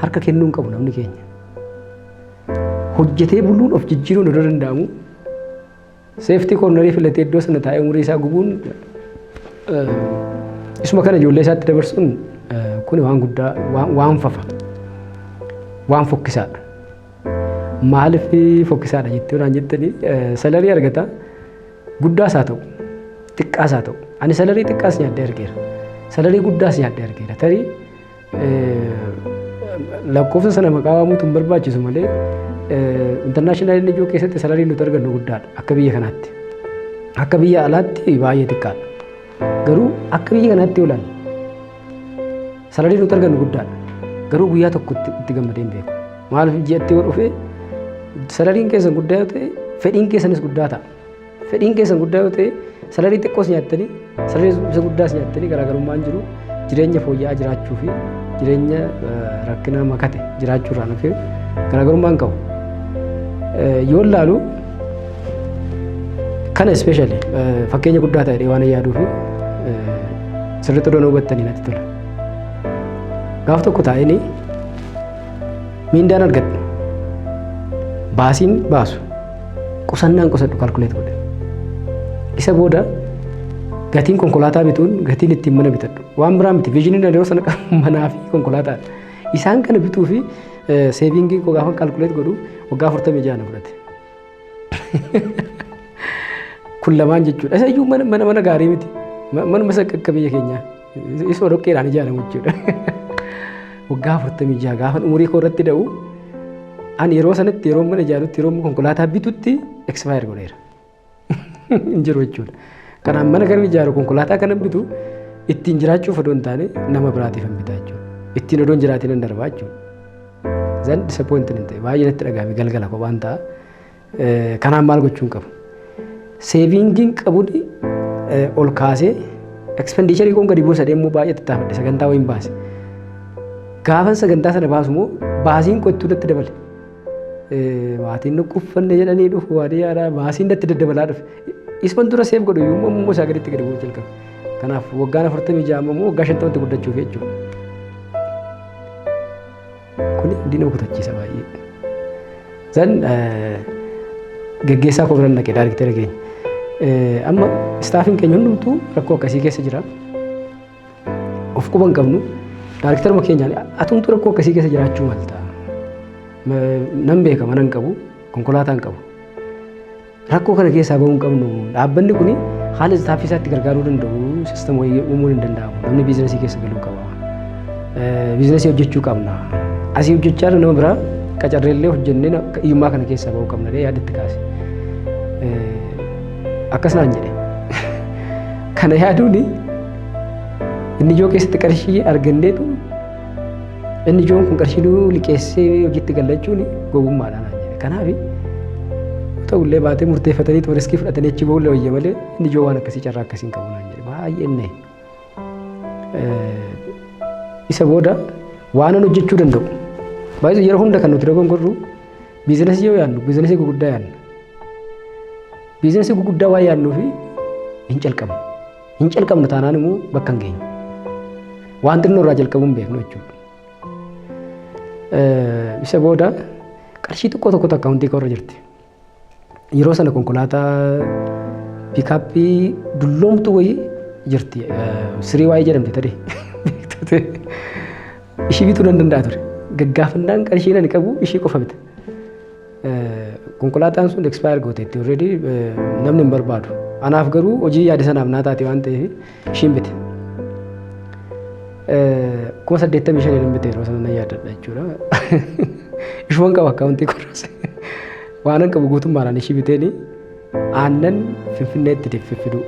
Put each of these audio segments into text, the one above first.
harka kennuu hin qabu namni keenya. Hojjetee buluun of jijjiiruun odoo danda'amu Seeftii koornarii filatee iddoo sana taa'ee umurii isaa gubuun isuma kana ijoollee isaatti dabarsuun kun waan guddaa waan fafa waan fokkisaadha. Maaliif fokkisaadha jettee waan jettanii salarii argata guddaas haa ta'u xiqqaas haa ta'u ani salarii xiqqaas nyaadhee argeera salarii guddaas nyaadhee argeera tarii Lakkoofsa sana maqaa waamuutu hin barbaachisu malee intarnaashinaal inni ijoo keessatti salariin nuti argannu guddaadha akka biyya kanaatti. Akka biyya alaatti baay'ee xiqqaadha. Garuu akka biyya kanaatti yoo ilaalle salariin nuti argannu guddaadha. Garuu guyyaa tokko itti gammadee hin beeku. Maaliif ji'atti yoo dhufe salariin keessan guddaa yoo ta'e fedhiin keessanis guddaa ta'a. Fedhiin keessan guddaa yoo ta'e salarii xiqqoos nyaattanii salarii isa guddaas nyaattanii garaagarummaan jiru jireenya fooyya'aa jiraachuu fi jireenya rakkinaa makate jiraachuu irraa nufee garaagarummaan qabu. Yoo laalu kana ispeeshali fakkeenya guddaa ta'e waan yaaduu fi sirriitti odoon hubattanii natti tola. Gaaf tokko taa'ee miindaan argadhu baasiin baasu Qusannaan qusadhu kalkuleet godhe. Isa booda gatiin konkolaataa bituun gatiin ittiin mana bitadhu. Waan biraa miti viizhiniin yeroo sana qabu manaa fi konkolaataa. Isaan kana bituu fi seeviingii koo gaafa kalkuleet godhu waggaa afurtamii ja'a na fudhate. Kun lamaan jechuudha. Isa iyyuu mana mana gaarii miti. Manuma isa akka biyya keenyaa. Isuma dhoqqeedhaan ijaaramu jechuudha. Waggaa afurtamii jaha gaafa umurii koo irratti da'u ani yeroo sanatti yeroo mana ijaarutti yeroo konkolaataa bitutti ekspaayir godheera. Hin jiru jechuudha. Kanaan mana kan ijaaru konkolaataa kanan bitu ittiin jiraachuuf odoo hin taane nama biraatiif hin bitaa jechuudha. Ittiin odoo hin jiraatiin hin darbaa jechuudha. Zan disappointin hin ta'e baay'ee natti dhagahame galgala kophaan ta'a. Kanaaf maal gochuun qabu? Seeviingiin qabudi ol kaasee ekspendiicharii koon gadi buusa deemuu baay'ee tattaafadhe sagantaa wayiin baase. Gaafan sagantaa sana baasu immoo baasiin kottuu natti dabale. Maatiin nu kuffanne jedhanii dhufu waadee yaadaa baasiin natti daddabalaa dhufe. Isman dura seef godhu iyyuu immoo isaa gaditti gadi bu'uu jalqabe. Kanaaf waggaan afurtamii ja'a immoo waggaa shantamatti guddachuuf jechuudha. Kuni hundi nama kutachiisa baay'ee. Zan gaggeessaa koo biran dhaqe daarikteera keenya. Amma istaafiin keenya hundumtuu rakkoo akkasii keessa jira. Of quba hin qabnu. Daarikteruma keenyaan atumtu rakkoo akkasii keessa jiraachuu malta. Nan beeka mana hin qabu, konkolaataa hin qabu. Rakkoo kana keessaa bahuu hin qabnu. Dhaabbanni kun haala istaafii isaatti gargaaruu danda'u sistem wayii uumuun hin danda'amu. Namni biizinasii keessa galuu qaba. Biizinasii hojjechuu qabna. Asii hojjechaa jiru nama biraa qacarreellee hojjennee hiyyummaa kana keessaa bahuu qabna jedhee yaada itti kaase. Akkas naan jedhe. Kana yaaduun inni ijoo keessatti qarshii arganneetu Inni ijoon kun qarshii nuu liqeessee hojiitti galla jechuun gowwummaadhaan naan jedhe. Kanaaf ta'ullee baatee murteeffatanii tuma riskii fudhatanii achi ba'ullee wayya malee inni ijoo waan akkasii carraa akkasii hin qabu naan jedhe. Baay'ee inni isa booda waanan hojjechuu danda'u. Baay'ee yeroo hunda kan nuti dogongorru biizinasii yoo yaadnu biizinasii gurguddaa yaadna. Biizinasii gurguddaa waan yaadnuuf hin calqabnu. Hin calqabnu taanaan immoo bakka hin geenyu. Waan xinnoo irraa jalqabuu hin beeknu jechuudha. Isa booda qarshii xiqqoo tokkotu akkaawuntii koo irra jirti. Yeroo sana konkolaataa piikaappii dulloomtu wayii jirti. Sirii waayee jedhamti tade. Ishii bituu nan danda'a ture. Gaggaafannaan qarshiin ani qabu ishii qofa bita. Konkolaataan sun expire gooteetti already namni hin barbaadu. Anaaf garuu hojii yaada sanaaf naa taate waan ta'eef ishiin bite. Kuma saddeettamii shan hin bite yeroo sana nan yaadadha jechuudha. Ishuman qaba akkaawuntii kunis. Waanan qabu guutummaadhaan ishii biteeni aannan finfinneetti deeffiffidu.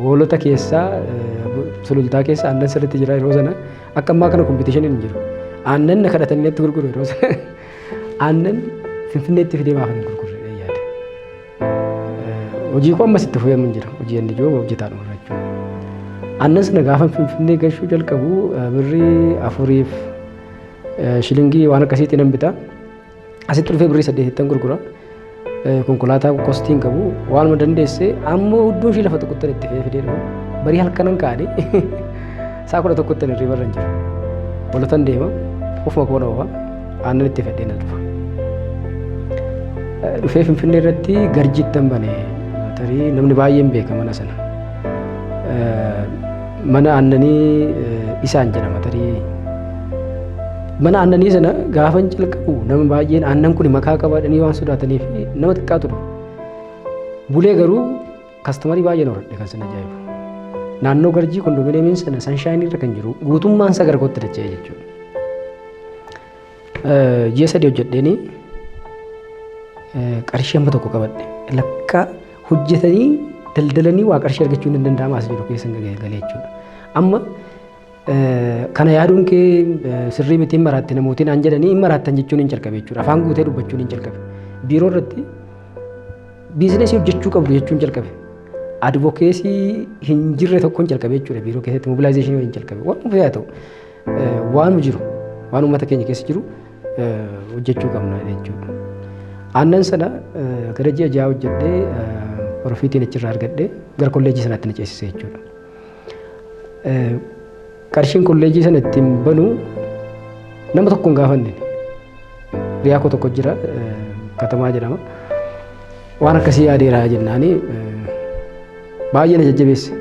Hoolota keessaa sulultaa keessa aannan sirriitti jira yeroo sana akka ammaa kana kompiitishinii hin jiru. Aannan na kadhatanii natti gurguru yeroo sana. Aannan Finfinneetti fidee maaf hin gurgurre jedhee yaade. Hojii koo ammas itti fufee mun jira. Hojii inni jiru hojjetaa dhufu jechuudha. Aannan sana gaafa Finfinnee gashuu jalqabu birrii afuriif shilingii waan akkasiitti nan bita. Asitti dhufee birrii saddeetittan gurgura. konkolaataa qoqqoostii hin qabu waanuma dandeesse ammoo hudduu ishii lafa tuquttan itti fe'ee fidee dhufu barii halkanan kaa'anii isaa kudha tokkottan irrii barra hin jiru bolotan deema ofuma koona ofa aannan itti fedhee na dhufa dhufee finfinnee irratti garjittan bane tarii namni baay'een beeka mana sana mana aannanii isaan jedhama tarii Mana aannanii sana gaafan calqabu nama baay'een aannan kun makaa qabaadhanii waan sodaataniif nama xiqqaa ture. Bulee garuu kastamarii baay'een horadhe kan sana ajaa'ibu. Naannoo garjii kondominiyeemiin sana sanshaayinii irra kan jiru guutummaan isaa gara kootti dacha'e jechuudha. Ji'a sadii hojjedheenii qarshii amma tokko qabadhe lakkaa hojjetanii daldalanii waa qarshii argachuun hin danda'amu as jiru keessa galee jechuudha. Amma Kana yaaduun kee sirrii miti hin maraatte namootiin aan jedhanii hin maraattan jechuun hin jalqabe jechuudha. Afaan guutee dubbachuun hin jalqabe. Biiroo irratti biizinesii hojjechuu qabdu jechuun jalqabe. Advokeesii hin jirre tokkoon jalqabe jechuudha biiroo keessatti mobilaayizeeshinii waliin jalqabe. Waan dhufe haa ta'u waan jiru waan uummata keenya keessa jiru hojjechuu qabna jechuudha. Aannan sana gara ji'a ja'a hojjedhee profiitiin achirraa argadhee gara kolleejjii sanaatti na ceesise jechuudha. Qarshiin kolleejii sana ittiin banu nama tokko hin gaafanne. Riyaa koo tokko jira katamaa jedhama. Waan akkasii yaadeera jennaani baay'ee na jajjabeesse.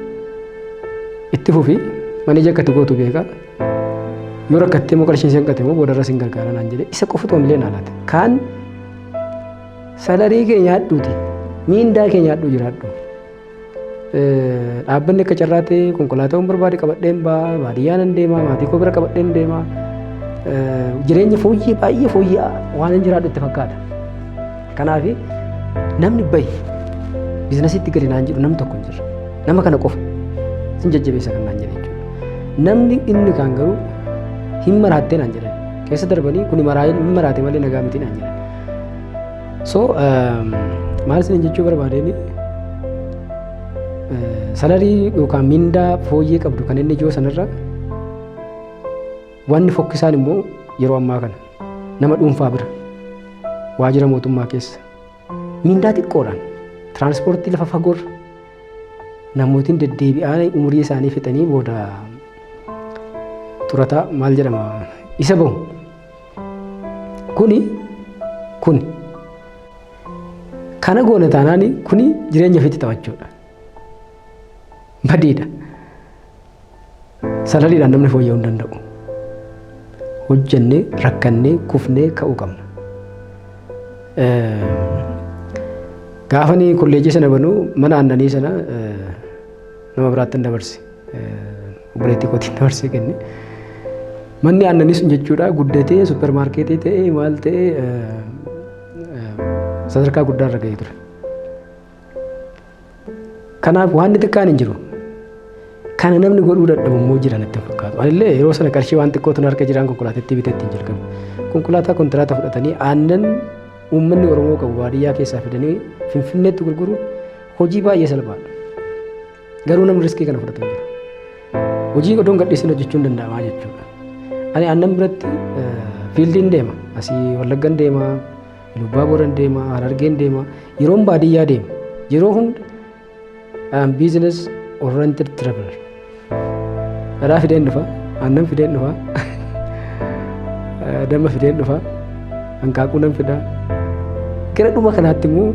Itti fufi maneeja akka itti gootu beeka. Yoo rakkattee immoo qarshiin isheen qatte immoo boodarras hin gargaara naan jedhe isa qofa otoo hin leen alaate. Kaan salarii kee nyaadhuuti miindaa kee nyaadhuu jiraadhu. Dhaabbanni akka carraa ta'e konkolaataawwan barbaade qabadheen ba'a baadiyyaa nan deema maatii koo bira qabadheen deema jireenya fooyyee baay'ee fooyyee waan hin jiraadhu itti fakkaata. Kanaaf namni bahi biizinasiitti gadi naan jedhu namni tokko hin jiru nama kana qofa sin jajjabeessa kan naan jedhe jechuudha. Namni inni kaan garuu hin maraattee naan jedhan keessa darbanii kuni maraa'ee hin maraate malee nagaa miti naan jedhan. So maal isin jechuu barbaadeen salarii yookaan mindaa fooyyee qabdu kan inni ijoo sanarra wanni fokkisaan immoo yeroo ammaa kana nama dhuunfaa bira waajjira mootummaa keessa mindaa xiqqoodhaan tiraanspoortii lafa fagoorra namootiin deddeebi'aan umurii isaanii fixanii booda xurataa maal jedhama isa bahu kuni kuni kana goone taanaan kuni jireenya ofiitti taphachuudha badiidha salaliidhaan namni fooyya'uu hin danda'u hojjennee rakkannee kufnee ka'uu qabna gaafanii kolleejii sana banuu mana aannanii sana nama biraatti hin dabarse obboleettii kootiin dabarsee kenne. Manni aannanii sun jechuudha guddatee suppermaarkeetii ta'ee maal ta'ee sadarkaa guddaa irra ga'ee ture. Kanaaf waan xiqqaan hin jiru. Kana namni godhuu dadhabu immoo jira natti fakkaatu. Anillee yeroo sana qarshii waan xiqqootu harka jiraan konkolaatattii biteetti hin jalqabe. Konkolaataa kontiraata fudhatanii aannan uummanni Oromoo qabu baadiyyaa keessaa fidanii Finfinneetti gurguruun hojii baay'ee salphaadha. Garuu namni riskii kana fudhatu hin jiru. Hojii odoon gadhiisin hojjechuun danda'amaa jechuudha. Ani aannan biratti fiildiin deema. Asii Wallaggan deema, Lubbaa Booran deema, Harargeen deema. Yeroon baadiyyaa deema. Yeroo hunda I'm business oriented traveler. Dhadhaa fideen dhufa, aannan fideen dhufa, damma fideen dhufa. Hanqaaquu nan fidaa. Gara dhuma kanaatti immoo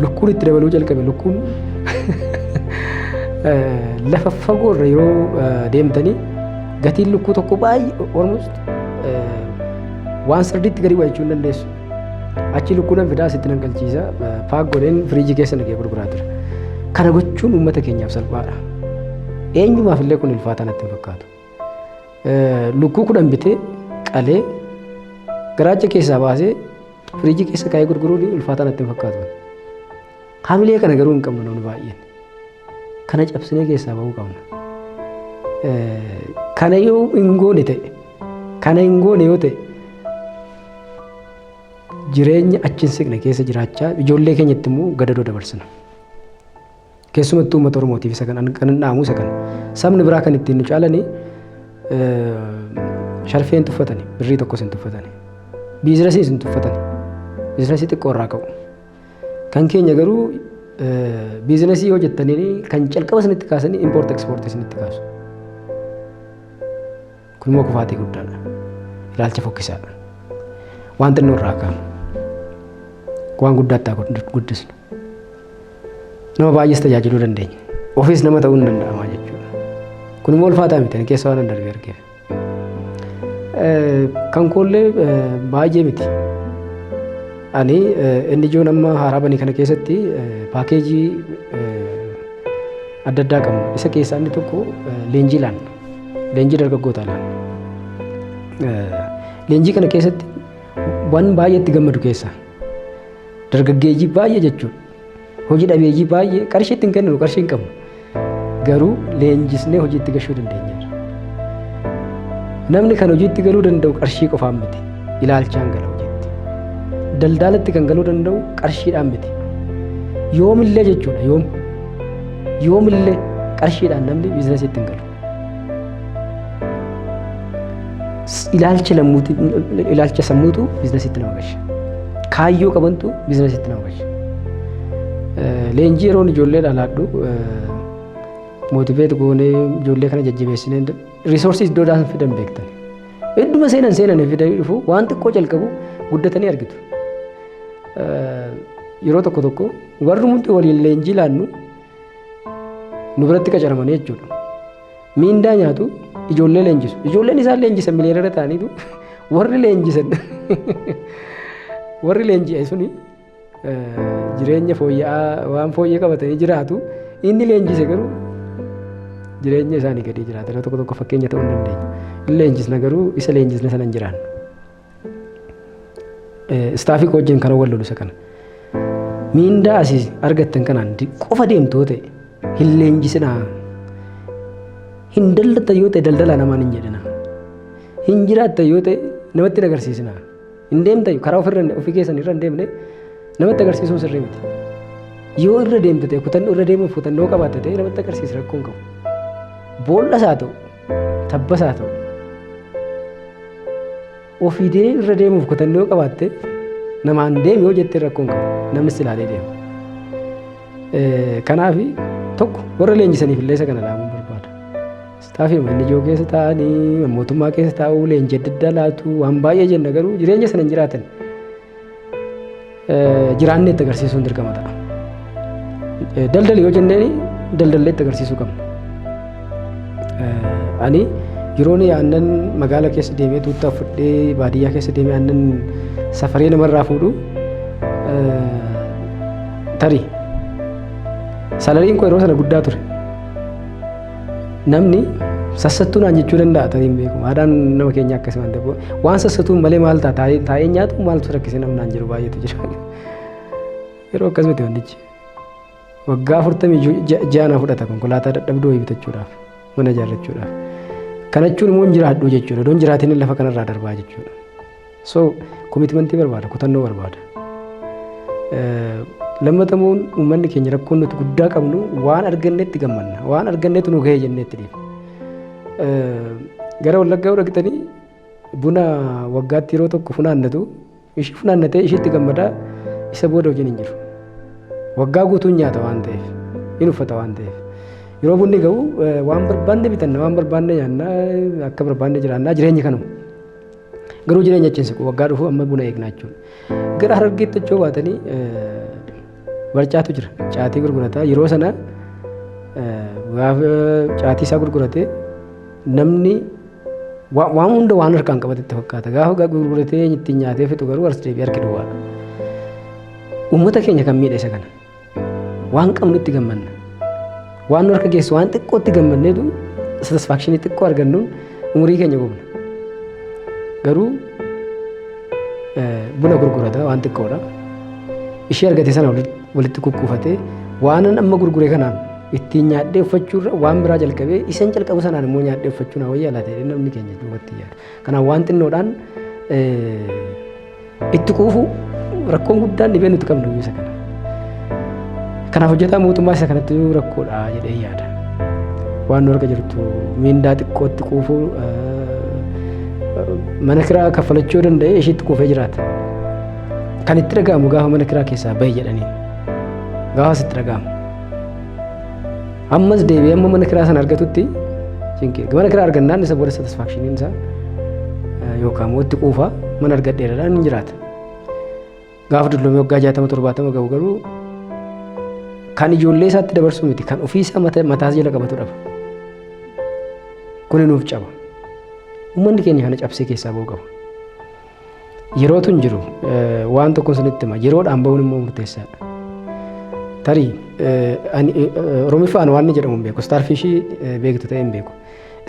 lukkuun itti dabaluu jalqabe lukkuun lafa fagoo irra yeroo deemtanii gatiin lukkuu tokko baay'ee almost waan sirdiitti gadi bu'a jechuun dandeessu. Achi lukkuu nan fidaa asitti nan galchiisa paak godheen firiijii keessa nagee gurguraa ture. Kana gochuun uummata keenyaaf salphaadha. Eenyumaaf illee kun ulfaataa natti hin fakkaatu. Lukkuu kudhan bitee qalee garaacha keessaa baasee firiijii keessa kaa'ee gurguruun ulfaataa natti hin fakkaatu. Hamilee kana garuu hin qabnu namni baay'een. Kana cabsinee keessaa ba'uu qabna. Kana yoo hin goone ta'e kana hin goone yoo ta'e jireenya achi hin siqne keessa jiraachaa ijoollee keenyatti immoo gadadoo dabarsina. Keessumattuu uummata Oromootiif isa kan kanan dhaamu isa kana. Sabni biraa kan ittiin nu caalani sharfee hin tuffatani, birrii tokkos hin tuffatani. Biizinasiis hin tuffatani. Biizinasii xiqqoo irraa ka'u. Kan keenya garuu biizinasii yoo jettanii kan calqaba isinitti kaasanii impoort ekspoortii isinitti kaasu. Kun immoo kufaatii guddaadha. Ilaalcha fokkisaadha. Waan xinnoo irraa kaanu. Waan guddaatti haa guddisnu. Nama baay'ees tajaajiluu dandeenya. Ofiis nama ta'uu ni danda'ama jechuudha. Kun immoo ulfaataa miti. Ani keessa waan darbe argeef. Kan koollee baay'ee miti. Ani inni ijoon amma haaraa banii kana keessatti paakeejii adda addaa qabna. Isa keessaa inni tokko leenjii laanna. Leenjii dargaggootaa laal. Leenjii kana keessatti waan baay'ee itti gammadu keessaa dargaggeeyyii baay'ee jechuun hojii dhabeeyyii baay'ee qarshii ittiin kenninu qarshii hin qabnu garuu leenjisnee hojii itti gashuu dandeenya. Namni kan hojii itti galuu danda'u qarshii qofaan miti ilaalchaan gala hojiitti. Daldaalatti kan galuu danda'u qarshiidhaan miti. Yoomillee jechuudha yoom. Yoomillee qarshiidhaan namni biizinasiitti hin galu. Ilaalcha lammuuti ilaalcha sammuutu biizinasiitti nama galcha. Kaayyoo qabantu biizinasiitti nama galcha. Leenjii yeroon ijoollee dhalaadhu mootiveet goonee ijoollee kana jajjabeessinee riisoorsii iddoo daasan fidan beektan. Hedduma seenan seenan fidanii dhufu waan xiqqoo jalqabu guddatanii argitu. Yeroo tokko tokko Warri hundi waliin leenjii laannu nu biratti qacaramanii jechuudha. Miindaa nyaatu ijoollee leenjisu. Ijoolleen isaan leenjisan miliyoonera ta'aniitu warri leenjisan warri leenji'e suni jireenya fooyya'aa waan fooyyee qabatanii jiraatu inni leenjise garuu jireenya isaanii gadii jiraata. Yeroo tokko tokko fakkeenya ta'uu hin dandeenye. Hin leenjisna garuu isa leenjisne sana hin jiraannu. Istaafii koo wajjin kanan wal lolu isa kana. Miindaa asii argattan kanaan di- qofa deemtoo ta'e hin leenjisinaa. Hin daldalta yoo ta'e daldalaa namaan hin jedhinaa. Hin jiraatta yoo ta'e namatti hin agarsiisinaa. Hin deemta karaa ofirra ofii keessan irra hin deemne namatti agarsiisuun sirrii miti. Yoo irra deemte ta'e kutannoo irra deemuuf kutannoo qabaatte ta'e namatti agarsiisa rakkoo hin qabu. Boolla isaa ta'u Tabbas haa ta'u. Ofiidee irra deemuuf kutannoo qabaatte namaan deemi yoo jettee rakkoon qabu namni si ilaalee deema. Kanaaf tokko warra leenjisaniif illee isa kana dhaamuu barbaada. Istaafii inni ijoo keessa taa'anii mootummaa keessa taa'uu leenjii adda addaa laatu waan baay'ee jenna garuu jireenya sana hin jiraatan. jiraannee itti agarsiisuun dirqama ta'a. Daldali yoo jenneen daldallee itti agarsiisuu qabna. Ani yeroon aannan magaala keessa deemee tuuttaa fudhee baadiyyaa keessa deemee aannan safaree namarraa fuudhu tarii salariin koo yeroo sana guddaa ture. Namni sassattuu naan jechuu danda'a tarii hin beeku. Aadaan nama keenya akkasii waan ta'eef waan sassatuun malee maal ta'a taa'ee taa'ee nyaatu maaltu rakkise namni naan jedhu baay'eetu jira. Yeroo akkas miti wantichi. Waggaa afurtamii ja'a na fudhata konkolaataa dadhabduu wayii bitachuudhaaf mana ijaarrachuudhaaf. Kana jechuun immoo hin jiraadhu jechuudha. Odoon jiraatiin lafa kanarraa darbaa jechuudha. So komitmentii barbaada, kutannoo barbaada. Lammatamuun uummanni keenya rakkoon nuti guddaa qabnu waan argannetti gammanna. Waan argannetti nu gahee jennetti dhiifna. Gara wallaggaa yoo dhaqxanii buna waggaatti yeroo tokko funaannatu ishii funaannatee ishiitti gammadaa isa booda hojiin hin jiru. Waggaa guutuun nyaata waan ta'eef hin uffata waan ta'eef. Yeroo bunni ga'u waan barbaanne bitanna waan barbaanne nyaanna akka barbaanne jiraanna jireenyi kanuma. Garuu jireenya achi hin siqu. Waggaa dhufu amma buna eegnaa jechuudha. Gara harargeetti achoo baatanii barcaatu jira. Caatii gurgurataa yeroo sana gaafa caatii isaa gurguratee namni waan hunda waan harkaan qabatetti fakkaata. Gaafa gurguratee ittiin nyaatee fixu garuu as deebi'ee harki duwwaadha. Uummata keenya kan miidhe isa kana. Waan qabnutti gammanna. Waan nu harka geessu waan xiqqootti gammanneetu satisfaakshinii xiqqoo argannuun umurii keenya gubna. Garuu buna gurgurata waan xiqqoodha. Ishee argate sana walitti kukkuufatee waanan amma gurgure kanaan ittiin nyaadhee uffachuurra waan biraa jalqabee isan jalqabu sanaan immoo nyaadhee uffachuu na wayyaa laata jedhee namni keenya duubatti yaadu. Kanaaf waan xinnoodhaan Itti quufuu rakkoon guddaan dhibee nuti qabnu isa kana. Kanaaf hojjetaa mootummaa isa kanatti rakkoodha jedhee yaada. Waan nu harka jirtu miindaa xiqqootti quufuu mana kiraa kaffalachuu danda'ee ishiitti quufee jiraata. Kan itti dhaga'amu gaafa mana kiraa keessaa bahi jedhanii gaafa sitti dhaga'amu. Ammas deebi'ee amma mana kiraa sana argatutti cinqii mana kiraa argannaan isa booda satisfaakshiniin isaa yookaan immoo itti quufa mana argadheeradhaan hin jiraata. Gaafa dullomee waggaa jaatama torbaatama gahu garuu kan ijoollee isaatti dabarsuu miti kan ofii isaa mataas jala qabatu dhaba. Kuni nuuf caba. Uummanni keenya kana cabsee keessaa ba'uu qaba. Yerootu hin jiru waan tokko sinitti hima yeroodhaan bahuun immoo murteessaadha. Tarii Oromiffaan waan inni jedhamu hin beeku istaarfiishii beektu ta'e hin beeku.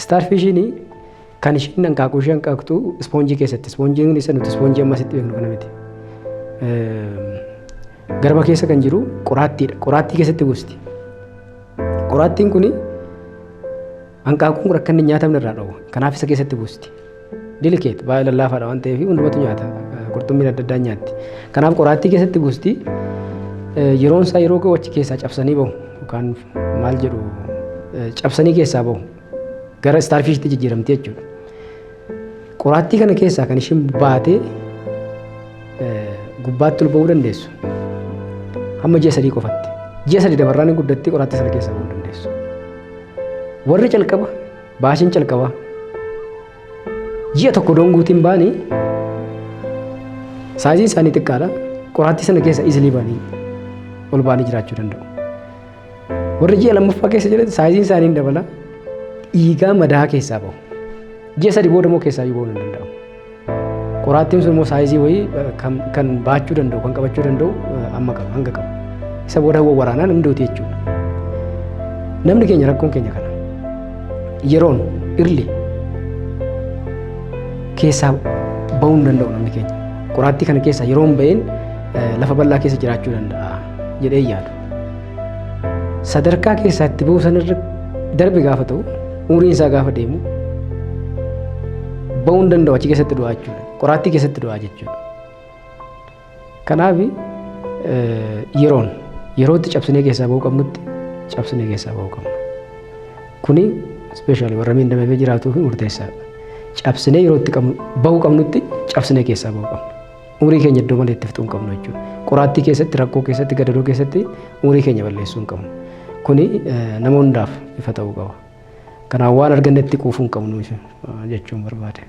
Istaarfiishiin kan ishiin hanqaaquu ishee hanqaaqtu ispoonjii keessatti ispoonjiin isa nuti ispoonjii ammas itti beeknu kana miti. Garba keessa kan jiru qoraattiidha. Qoraattii keessatti buusti. Qoraattiin kuni Hanqaaquun kun akka inni hin nyaatamne irraa dhoowwa. Kanaaf isa keessatti buusti. Dilikeet baay'ee lallaafaadha waan ta'eef hundumatu nyaata. Qurxummiin adda addaa nyaatti. Kanaaf qoraattii keessatti buusti. Yeroon isaa yeroo ga'u achi keessaa cabsanii bahu. Yookaan maal jedhu cabsanii keessaa bahu. Gara istaarfiishitti jijjiiramti jechuudha. Qoraattii kana keessaa kan isheen baatee gubbaatti ol ba'uu dandeessu hamma ji'a sadii qofatti. Ji'a sadii dabarraan hin guddattee qoraattii sana keessaa ba'uu dandeessu. Warri calqaba baashiin calqabaa ji'a tokko doon guutiin baanii saayiziin isaanii xiqqaadha. Qoraattii sana keessa isilii baanii ol baanii jiraachuu danda'u. Warri ji'a lammaffaa keessa jiran saayiziin isaanii hin dabala. Dhiigaa madaa keessaa bahu. Ji'a sadi booda immoo keessaa iyyuu bahuun hin danda'amu. Qoraattiin sun immoo saayizii wayii kan baachuu danda'u kan qabachuu danda'u amma qaba hanga qaba. Isa booda hawwa waraanaan hin duuti jechuudha. Namni keenya rakkoon keenya kana. Yeroon irli keessaa bahuu hin danda'u namni keenya. Qoraattii kana keessaa yeroon baheen lafa bal'aa keessa jiraachuu danda'a jedhee yaadu. Sadarkaa keessaa itti ba'uu sanarra darbe gaafa ta'u umriin isaa gaafa deemu ba'uu hin danda'u achi keessatti du'aa jechuudha. Qoraattii keessatti du'aa jechuudha. Kanaaf yeroon yerootti cabsinee keessaa ba'uu qabnutti cabsinee keessaa ba'uu qabna. Kuni ispeeshaalii warra miidhamee jiraatuu fi murteessaadha. Cabsinee yerootti ba'uu qabnutti cabsinee keessaa ba'uu qabna. Umurii keenya iddoo malee itti fixuu hin qabnu jechuudha. Qoraattii keessatti, rakkoo keessatti, gadadoo keessatti umurii keenya balleessuu hin qabnu. Kuni nama hundaaf ifa ta'uu qaba. Kanaaf waan argannetti quufuu hin qabnu jechuun barbaade.